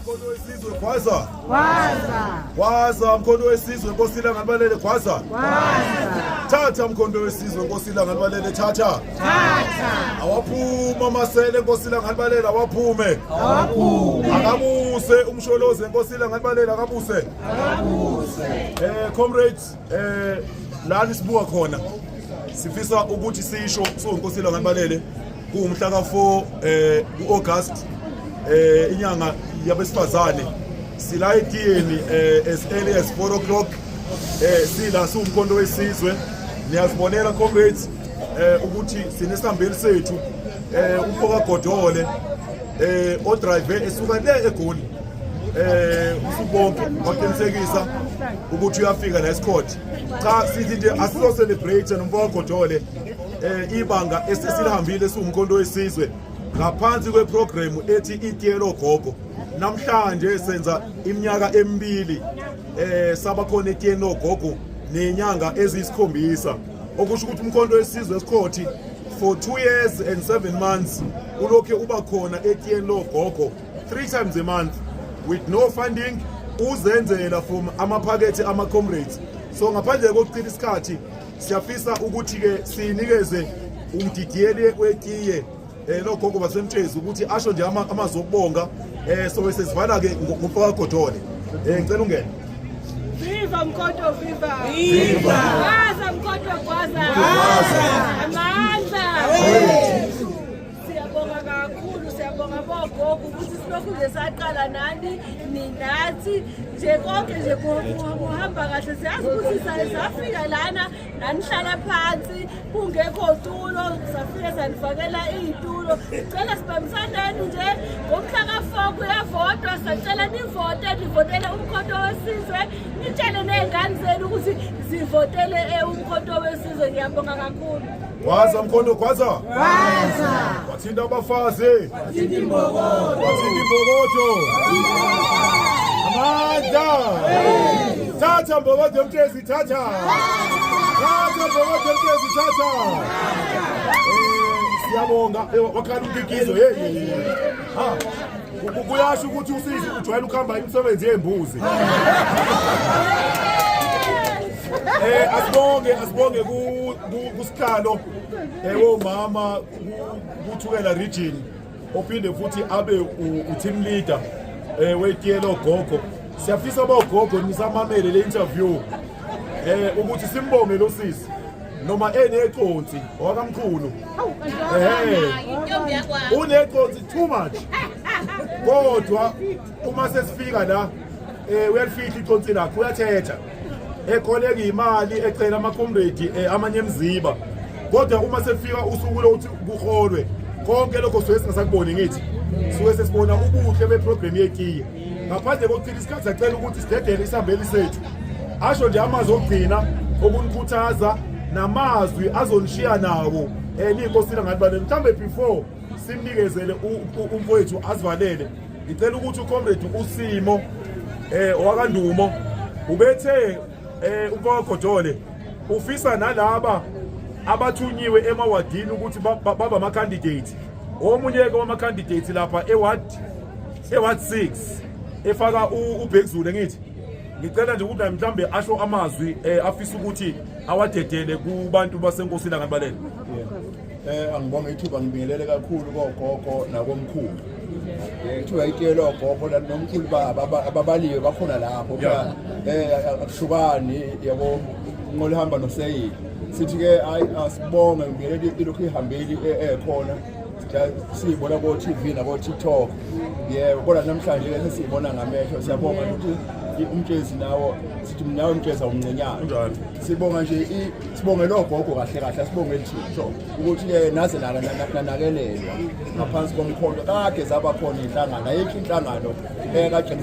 mkhondo wesizwe gwaza gwaza mkhondo wesizwe nkosi ilanganibalele gwaza thatha mkhondo wesizwe nkosi ilanganibalele thatha awaphuma amasele nkosi ilanganibalele awaphume akabuse umsholozi nkosi ilanganibalele akabuse um comrades Eh lani sibuka khona sifisa ukuthi sisho sonkosila ngabalele kuwumhla ka4 eh uAugust eh inyanga yabesifazane sila etiyeni eh as early as 4 o'clock eh sila siwumkhonto wesizwe niyazibonela comrades eh ukuthi sinesambeli sethu eh ufoka godole eh odrive esuka le egoli eh usubonke waqinisekisa ukuthi uyafika la eScourt cha sithi nje asiso celebrate nomfowabo Godole eh ibanga esesilihambile siwumkhonto wesizwe ngaphansi kweprogram ethi itiyelo gogo namhlanje senza iminyaka emibili eh saba khona etiyelo gogo nenyanga ezisikhombisa okusho ukuthi umkhonto wesizwe esikhothi for 2 years and 7 months ulokhu uba khona etiyeni logogo three times a month with no funding uzenzela from amaphakethe ama-comrades so ngaphandle kokuchitha isikhathi siyafisa ukuthi-ke sinikeze umdidiyeli wetiye um eh, logogo basemtshezi ukuthi asho nje amazwi okubonga um eh, so sesivala-ke ngomfakagodole um eh, ngicela ungene Viva Mkoto viva. Viva. Gwaza Mkoto gwaza. Gwaza. Amandla. Siyabonga kakhulu, siyabonga bogogo ukuthi silokhu nje saqala nani ninathi nje konke nje kuhamba kahle siyazi ukuthi safika lana nanihlala phansi kungekho tulo safike sanifakela iy'tulo sicela sibambisaneni nje ngomhla ka-four kuyavotwa sacela nivote nivotele umkhonto wesizwe nitshele ney'ngane zenu ukuthi zivotele eh, umkhonto wesizwe ngiyabonga kakhulu Gwaza mkhondo gwaza. Gwaza. Wathinta abafazi. Wathinta imbokodo. Wathinta imbokodo. Amandla. Thatha mbokodo emtezi thatha. Thatha mbokodo emtezi thatha. Eh, siyabonga. Eh, wakhala umkikizo. Hey. Ha. Kuyasho ukuthi usisi ujwayele ukuhamba imisebenzi yembuzi. Eh asibonge asibonge ku kusihlalo ewo mama kuthukela region ophinde futhi abe u-team leader um eh, wetiyelo gogo siyafisa bogogo nisamamele le interview um ukuthi simbonge lo sisi noma eneconsi wakamkhulu um uneconsi too much kodwa uma sesifika la um uyalifihla iconsi lakho uyathetha ekholeka imali ecela amacomrade eh, amanye emziba kodwa uma sefika usuku lokuthi kuholwe konke lokho suke singasakuboni ngithi suke sesibona ubuhle beprogramu yetiye ngaphandle kokuchitha isikhathi sacela ukuthi sidedele isihambeli sethu asho nje amazwi okugcina okunikhuthaza namazwi azonishiya nawo um eh, niyinkosina ngathi bane mhlawumbe before simnikezele umfowethu asivalele ngicela ukuthi ucomrade usimo eh owakandumo ubethe eh umfaka Godole ufisa nalaba abathunyiwe emawadini ukuthi baba ama candidate omunye ke wama candidate lapha eward eward 6 efaka ubhekuzulu ngithi ngicela nje ukuthi mhlambe asho amazwi eh, afisa ukuthi awadedele kubantu basenkosini angabalele Eh angibonga ithuba ngibingelele kakhulu kogogo nakomkhulu. Kuthiwa itshele ogogo nomkhulu baba ababaliwe bakhona lapho phela eh akushukani yabo nqola ihamba noseyili. Sithi ke hayi asibonge ngibingelele ilokhu ihambeli ekhona. siyibona ko-tv nako-tiktok yebo kodwa namhlanje ke sesiyibona ngamehlo siyabonga ukuthi umtshezi nawo sithi mnawo umtshezi awumncinyane sibonga nje Sibongele ogogo kahle kahle asibongele thixo ukuthi ke naze lana nanakelelwa ngaphansi komkhondo kade zaba khona inhlangano ayikho inhlangano ekagcina